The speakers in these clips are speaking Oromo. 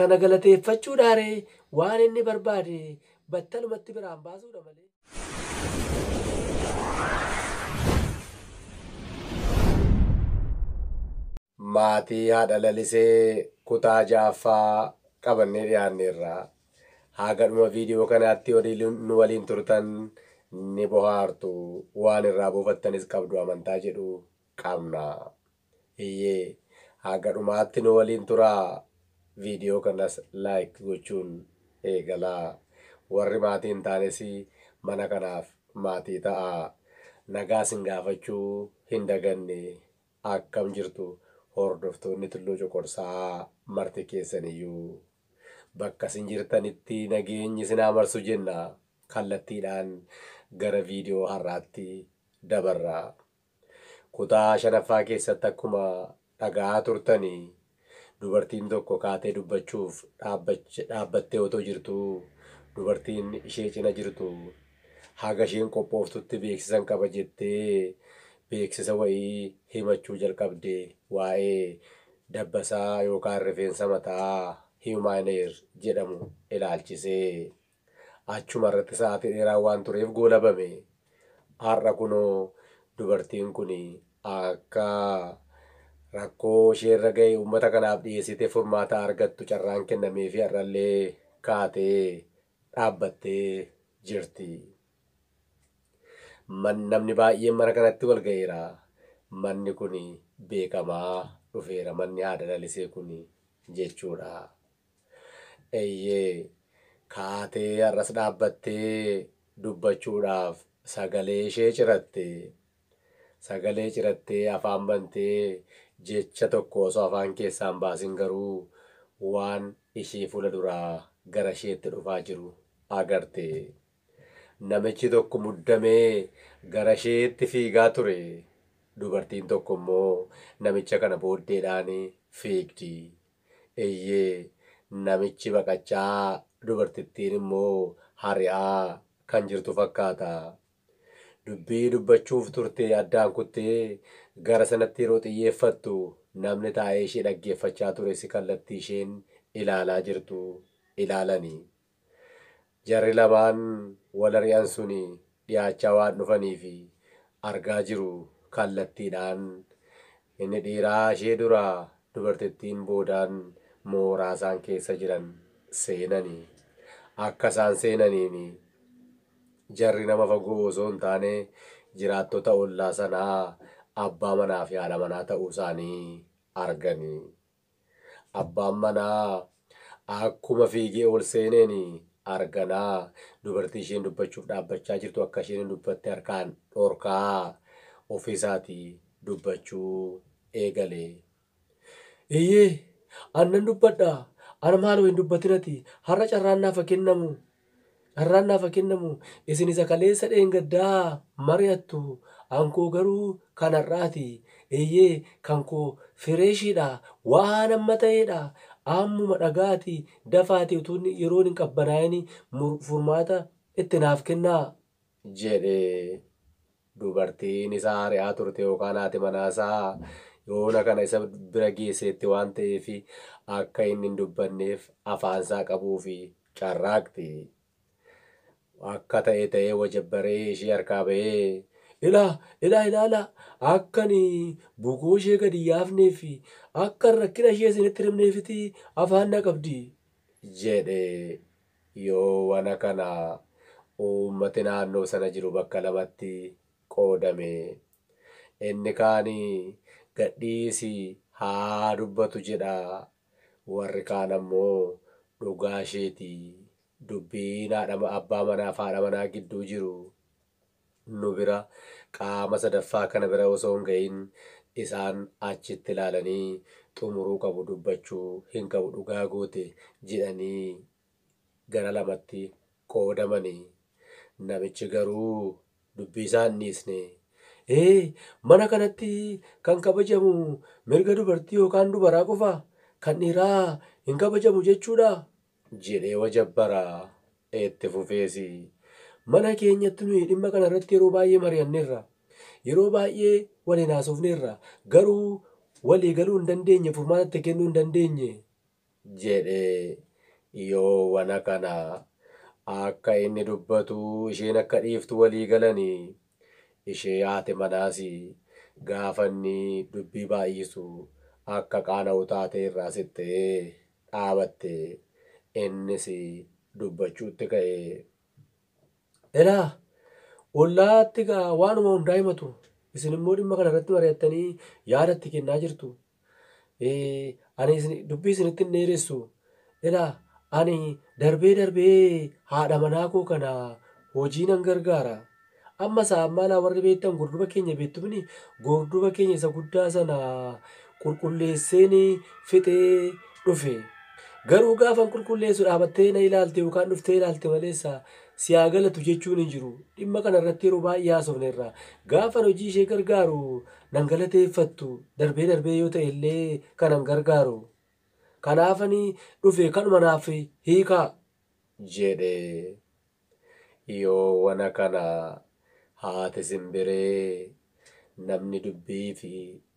Kana galateeffachuudhaa ree? Waan inni barbaade battalumatti biraan baasuudha malee. Maatii Haadha Lalisee kutaa 6ffaa qabannee dhiyaanneerra. Haga dhuma viidiyoo kanaatti yoo nu waliin turtan ni bohaartu, waan irraa buufattanis qabdu amantaa jedhu qabna. Eyyee haga dhumaatti nu waliin turaa video kanas like gochuun eegalaa warri maatii hin taanes mana kanaaf maatii ta'aa nagaa sin gaafachuu hin daganne akkam jirtu hordoftoonni Tulluu Coqorsaa marti keessaniyyuu bakka isin jirtanitti nageenyi isin haa marsu jenna kallattiidhaan gara video har'aatti dabarra. Kutaa shanaffaa keessatti akkuma dhaga'aa turtan dubartiin tokko kaatee dubbachuuf dhaabbattee otoo jirtuu dubartiin ishee cina jirtu haga isheen qophooftutti beeksisan qaba jettee beeksisa wa'ii himachuu jalqabde waa'ee dabbasaa yookaan rifeensa mataa human hair jedhamu ilaalchisee. Achumarratti sa'aatii dheeraa waan tureef goolabame. Har'a kunoo dubartiin kun akka rakkoo isheerra ga'e uummata kanaaf dhiyeessitee furmaata argattu carraan kennameefii har'allee kaatee dhaabbattee jirti. Man, namni baay'een mana kanatti wal ga'eera. Manni kun beekamaa dhufeera manni haadha lalisee kun jechuudha. Eyyee, kaatee har'as dhaabbattee dubbachuudhaaf sagalee ishee ciratte. Sagalee cirattee afaan bantee jecha tokko osoo afaan keessaa hin baasin garuu waan ishii fuula duraa gara isheetti dhufaa jiru agarte. Namichi tokko muddamee gara isheetti fiigaa ture. Dubartiin tokko immoo namicha kana booddeedhaan fiigdi. Eeyyee, namichi baqachaa, dubartittiin immoo hari'aa kan jirtu fakkaata. Dubbii dubbachuuf turtee addaan kuttee gara sanatti yeroo xiyyeeffattu namni taa'ee ishee dhaggeeffachaa ture si kallattii isheen ilaalaa jirtu ilaalani. Jarri lamaan wal ari'an suni dhiyaachaa waan dhufaniif argaa jiru kallattiidhaan. Inni dhiiraa ishee dura dubartittiin boodaan mooraa isaan keessa jiran seenani. Akka isaan seenaniin jarri nama fagoo osoo hin taane jiraattota ollaa sanaa abbaa manaa fi haadha manaa ta'uu isaanii argani. Abbaan manaa akkuma fiigee ol seeneen arganaa dubartii isheen dubbachuuf dhaabbachaa jirtu akka isheen hin dubbatte harkaan dhorkaa ofii isaatii dubbachuu eegale. Eeyyee, an nan dubbadha. An maaloo hin dubbatinati. Har'a carraan naafa kennamu Carraan naaf haa kennamu, isin isa kaleessa dheengaddaa haa mari'attu, ankoo garuu kan har'aati. Eeyyee, kan koo fireeshiidha, waan amma ta'eedha. Ammuma dhaga'aatii dafaatii utuu inni yeroon hin qabbanaa'ini furmaata itti naaf kennaa! jedhe. Dubartiin isa ari'aa turte yookaan haati manaasaa yoona kana isa bira geesseetti waan ta'eef akka inni hin dubbanneef afaansaa qabuuf carraaqxi. Akka ta'e ta'ee wajabbaree ishee harkaa ba'ee, Ilaa! Ilaa! Ilaalaa! Akka ani bukoo ishee gad hin yaafnee fi akka ani rakkina ishee isinitti hin himneefitii afaan na qabdi! jedhe. Yoo wana kana uummati naannoo sana jiru bakka lamatti qoodame. Inni kaan gadhiisi haa dubbatu jedha, warri kaan ammoo dhugaa isheeti dubbiin abbaa manaa fi haadha manaa gidduu jiru nu bira, qaama sadaffaa kana bira osoo hin ga'iin isaan achitti ilaalanii xumuruu qabu dubbachuu hin qabu dhugaa goote jedhanii gara lamatti qoodamani. Namichi garuu dubbii isaa hin dhiisne. Ee, mana kanatti kan kabajamu mirga dubartii yookaan dubaraa qofa, kan dhiiraa hin kabajamu jechuudhaa? jedhee wajabbara. Itti fufees, Mana keenyatti nuyi dhimma kana irratti yeroo baay'ee mari'anneerra. Yeroo baay'ee waliin haasofneerra. Garuu walii galuu hin dandeenye, furmaata itti kennuu hin dandeenye jedhe. Yoo wana kana akka inni dubbatu isheen akka dhiiftu walii galani. Ishee haati manaas gaafa inni dubbii baay'isu akka qaana'u taatee irraa siqxe. dhaabatte. Innis dubbachuutti ka'e. Ilaa! Ollaatti gaa waanuma hundaa himatu. Isin immoo dhimma kana irratti mari'attanii yaada itti kennaa jirtu. Ee, ani isin- dubbii isinitti hin dheeressu. Ilaa! Ani darbee darbee haadha manaa koo kana hojii nan gargaara. Amma saa maalaa warri beektan gorduba keenya beektumini gorduba keenya isa guddaa sana qulqulleesseen fixee dhufe. Garuu gaafan qulqulleessu dhaabattee na ilaalte yookaan dhuftee ilaalte maleessa si haa galatu jechuun hin jiru. Dhimma kana irratti yeroo baay'ee haasofneerra. Gaafan hojii ishee gargaaru nan galateeffattu darbee darbee yoo ta'e illee kanan gargaaru. Kanaafani dhufe kanuma naaf hiikaa. jedhe. Yoo wana kana haati simbiree namni dubbiif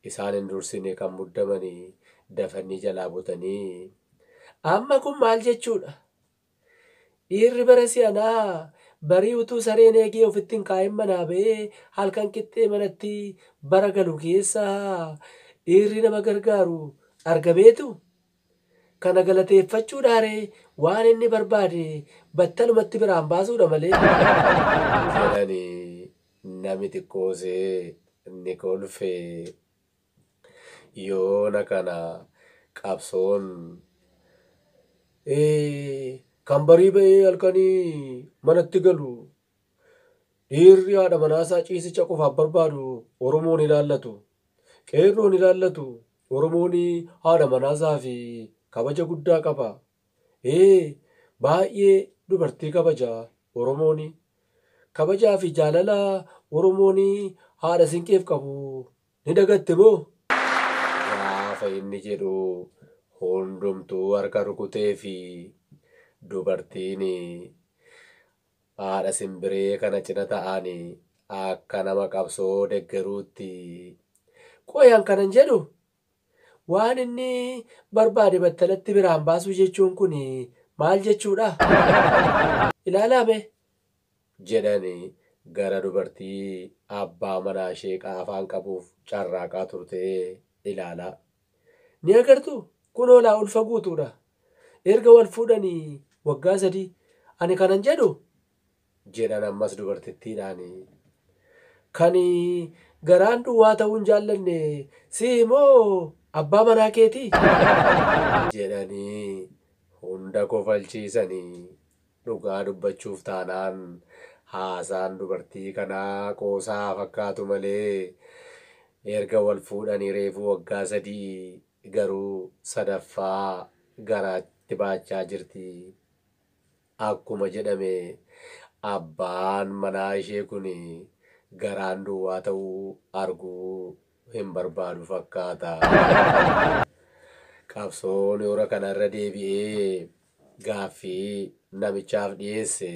isaan hin dursine kan muddamani dafannii jalaa butanii Amma kun maal jechuudha? Dhiirri bara si'anaa barii utuu sareen eegee ofitti hin kaa'in manaa ba'ee halkan qixxee manatti bara galu keessa dhiirri nama gargaaru argameetu? Kana galateeffachuudhaa ree? Waan inni barbaade battalumatti biraan baasuudha malee. jedhani nami xiqqoose ni kolfe. Yoona kana qabsoon Ee, kan barii ba'ee halkanii manatti galu. Dhiirri haadha manaasaa ciisicha qofaaf barbaadu Oromoon ilaallatu. Qeerroon ilaallatu Oromoon haadha manaasaaf kabaja guddaa qaba. Ee baay'ee dubartii kabaja Oromoon. Kabajaa fi jaalala Oromoon haadha Sinqeef qabu ni dagatte moo? Gaafa inni jedhu hundumtuu harka rukuteefi. Dubartiin Haadha Simbiree kana cina ta'ani akka nama qabsoo deggeruutti. Qoy an kanan jedhu waan inni barbaade battalatti biraan baasuu jechuun kun maal jechuudha? Ilaalaa mee! jedhan gara dubartii abbaa manaa ishee qaafaan qabuuf carraaqaa turtee ilaalaa. Ni agartuu? Kunoo laa ulfa guutuudha. Erga wal fuudhanii waggaa sadii. Ani kanan jedhu. Jedhan ammas dubartittiidhaan. Kan garaan duwwaa ta'uu hin jaallanne si'i moo abbaa manaa keeti? Jedhanii hunda kofalchiisani. Dhugaa dubbachuuf taanaan haasaan dubartii kanaa qoosaa haa fakkaatu malee erga wal fuudhanii reefuu waggaa sadii garuu sadaffaa garaa itti baachaa jirti. Akkuma jedhame abbaan manaa ishee kun garaan duwwaa ta'uu arguu hin barbaadu fakkaata. Qabsoon yoora kana irra deebi'ee gaaffii namichaaf dhiyeesse.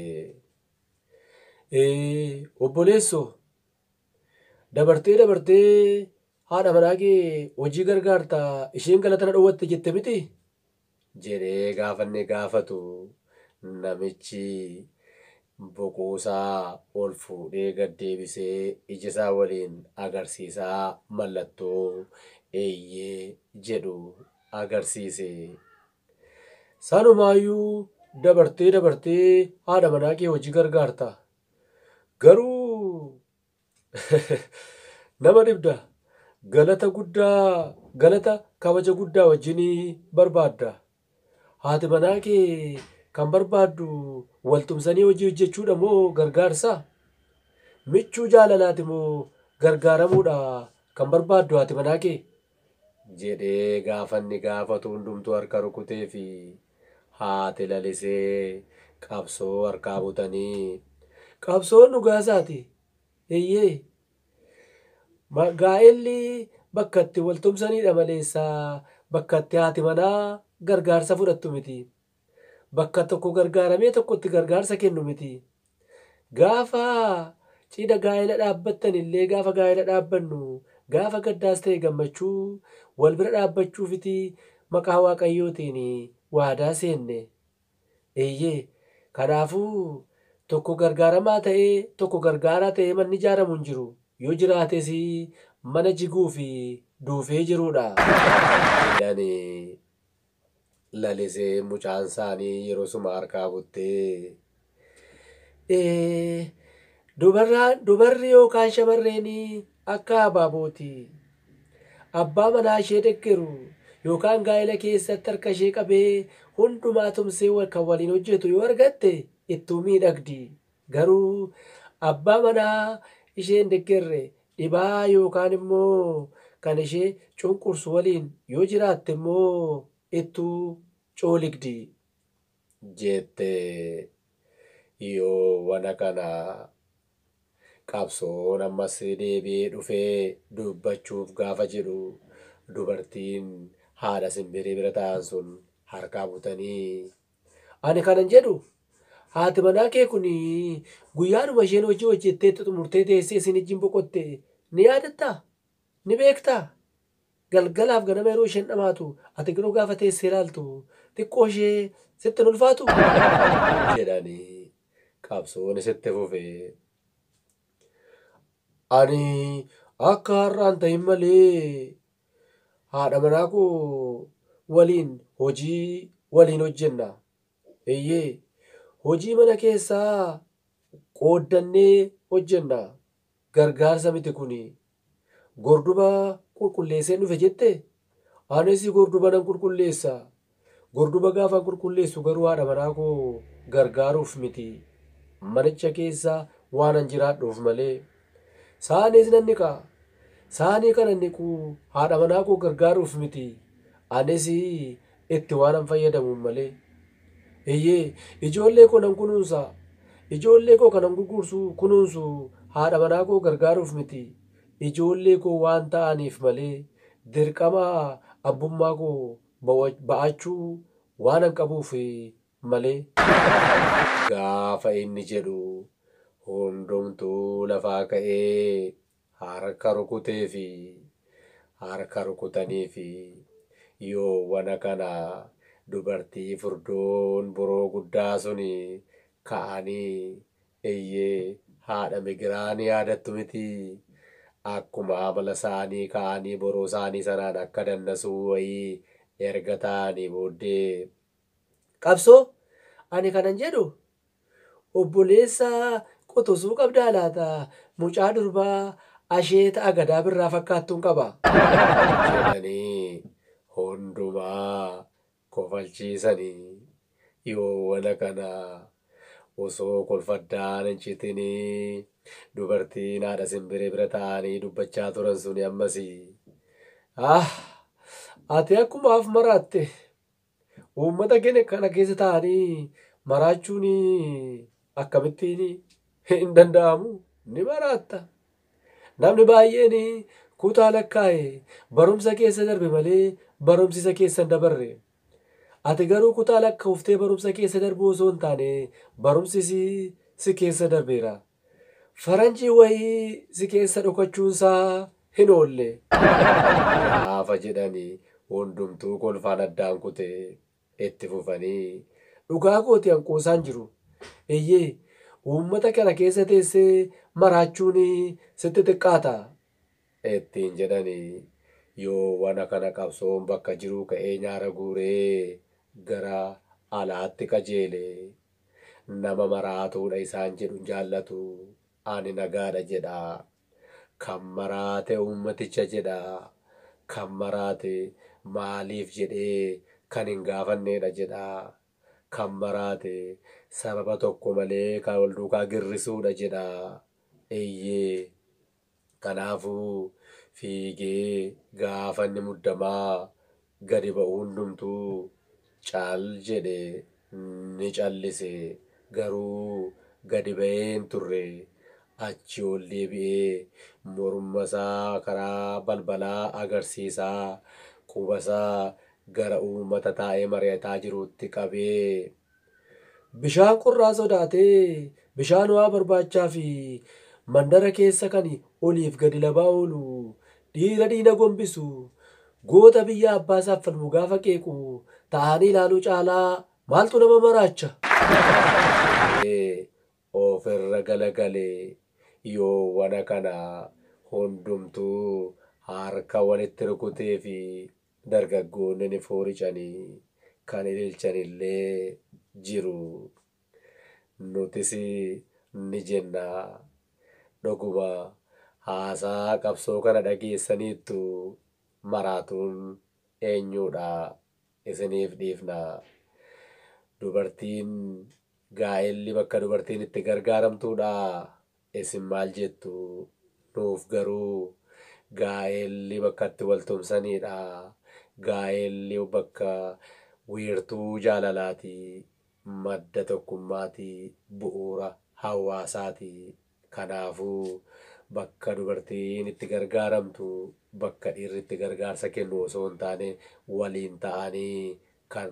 Ee, obboleessoo! Dabartee dabartee haadha manaa kee hojii gargaarta isheen galata na dhowwatte jette miti? jedhee gaafa inni gaafatu namichi boquusaa ol fuudhee gad deebisee ijasaa waliin agarsiisaa mallattoo eeyyee jedhu agarsiise. Sanumaayyuu dabartee dabartee haadha manaa kee hojii gargaarta Garuu nama dhibda. Galata guddaa galata kabaja guddaa wajjin barbaadda. Haati manaa kee kan barbaaddu wal tumsanii hojii hojjechuudha moo gargaarsa? Michuu jaalalaati moo gargaaramuudha kan barbaaddu haati manaa kee? jedhee gaafanni gaafatu hundumtuu harka rukuteefi. Haati lalisee qabsoo harkaa butanii. Qabsoon dhugaa isaati eyyee. Gaa'elli bakka itti wal tumsaniidha maleessa bakka itti haati manaa gargaarsa fudhattu miti. Bakka tokko gargaaramee tokkotti gargaarsa kennu miti. Gaafa cidha gaa'ela dhaabbattan illee gaafa gaa'ela dhaabbannu gaafa gaddaas ta'e gammachuu wal bira dhaabbachuufiti maqaa Waaqayyootiin waadaa seenne. Eeyyee, kanaafuu tokko gargaaramaa ta'ee tokko gargaaraa ta'ee manni ijaaramu hin jiru, yoo jiraates mana jiguu fi duufee jiruudha. Dane. lalisee mucaan saanii yerosuma harkaa buttee ee dubarraa dubarri yookaan shamarreenii akka abaabooti abbaa manaa ishee deggeru yookaan gaa'ela keessatti harka ishee qabee hundumaa tumsee kan waliin hojjetu yoo argatte ittuu miidhagdi Garuu abbaa manaa ishee hin deggerre, dhibaa yookaan immoo kan ishee cunqursu waliin yoo jiraatte immoo ittuu cooligdi. Jette. Yoo wana kana qabsoon ammas deebi'ee dhufe dubbachuuf gaafa jedhu dubartiin haadha simbirii bira taa'an sun harkaa butanii Ani kanan jedhu, haati manaa kee kun guyyaadhuma isheen hojii hojjettee itti xumurtee teessee isin ijjiin boqotte ni yaadattaa? Ni beektaa? Galgalaaf ganama yeroo isheen dhamaatu ati garuu gaafa teessee ilaaltu xiqqoo ishee sitti hin ulfaatuu? jedhani qabsoon isitti fufe. Ani akka har'aan ta'in malee Haadha manaa koo waliin hojii waliin hojjenna. Eeyyee, hojii mana keessaa qooddannee hojjenna. Gargaarsa miti kuni. Gorduba qulqulleesseen dhufe jette? Anis gorduba nan qulqulleessa, Gorduba gaafan qulqulleessu garuu haadha manaa koo gargaaruuf miti. Manicha keessa waanan jiraadhuuf malee. Saaniis nan dhiqa. Saanii kanan dhiqu haadha manaa koo gargaaruuf miti. Anis itti waanan fayyadamuuf malee. Eeyyee, ijoollee koo nan kunuunsa. Ijoollee koo kanan gurguursu, kunuunsu haadha manaa koo gargaaruuf miti. Ijoollee koo waan ta'aniif malee. Dirqama abbummaa koo ba'aachuu waanan qabuuf malee. Gaafa inni jedhu hundumtuu lafaa ka'ee harka rukuteefi. Harka rukutaniifi. Yoowana kana dubartii furdoon boroo guddaa suni ka'anii Eyyee haadha migiraa ni yaadattu mitii? Akkuma amala saanii ka'anii boruu saanii sanaan akka dannasuu wayii erga ta'anii booddee. Qabsoo? Ani kanan jedhu obboleessa quxusuu qabdaa laata? Mucaa durbaa asheeta agadaa birraa fakkaattuun qaba. jedhanii hundumaa kofalchiisani yoo wan akana osoo kolfa addaan hin citini dubartiin haadha sinbiree bira ta'aani dubbachaa turan suni ammasi ah ati akkuma af maraatte uummata keenya kana keessa ta'ani maraachuuni akkamittiini hin danda'amu ni maraatta Namni baay'een kutaa lakkaa'e barumsa keessa darbe malee barumsi isa keessa hin dabarre. Ati garuu kutaa lakka'uftee barumsa keessa darbuu osoo hin taane barumsi si si keessa darbeera. Faranjii wayii si keessa dhokachuun isaa hin oolle. Gaafa jedhani hundumtuu kolfaan addaan kute. Itti fufanii, Dhugaa kooti an qoosaan jiru. Eeyyee, uummata kana keessa teessee maraachuun sitti xiqqaata? ittiin jedhani. Yoo wana kana qabsoon bakka jiruu ka'ee nyaara guuree gara alaatti qajeele. Nama maraatuudha isaan jedhu hin jaallatu. Ani nagaadha jedha. Kan maraate uummaticha jedha. Kan maraate maaliif jedhee kan hin gaafanneedha jedha. Kan maraate sababa tokko malee kan wal duukaa girrisuudha jedha. Eyyee. Kanaafuu fiigee gaafanni muddamaa gadi ba'u hundumtuu cal jedhe ni callise garuu gadi ba'ee hin turre achi ol deebi'ee morma isaa karaa balbalaa agarsiisaa quba isaa gara uummata taa'ee mari'ataa jiruutti qabee Bishaan qorraa sodaatee bishaan ho'aa barbaachaafi mandara keessa kan oliif gadi labaa oolu, dhiira diina gombisu, goota biyya abbaasaaf falmu gaafa qeequ taa'anii ilaaluu caalaa maaltu nama maraacha? Ee, ofirra galagale. Yoo wana kana hundumtuu harka walitti rukuteefi Dargaggoonni ni fooricani, kan ililchanillee jiru. Nutis ni jenna, Dhuguma haasaa qabsoo kana dhageessaniittu, maraatuun eenyuudha? Isiniif dhiifna. Dubartiin gaa'elli bakka dubartiin itti gargaaramtuudhaa? Isin maal jettu? Nuuf garuu gaa'elli bakka itti wal tumsaniidha. Gaa'elli bakka wiirtuu jaalalaati, madda tokkummaati, bu'uura hawaasaati. Kanaafuu, bakka dubartiin itti gargaaramtu, bakka dhiirri itti gargaarsa kennu osoo hin taane waliin ta'anii kan.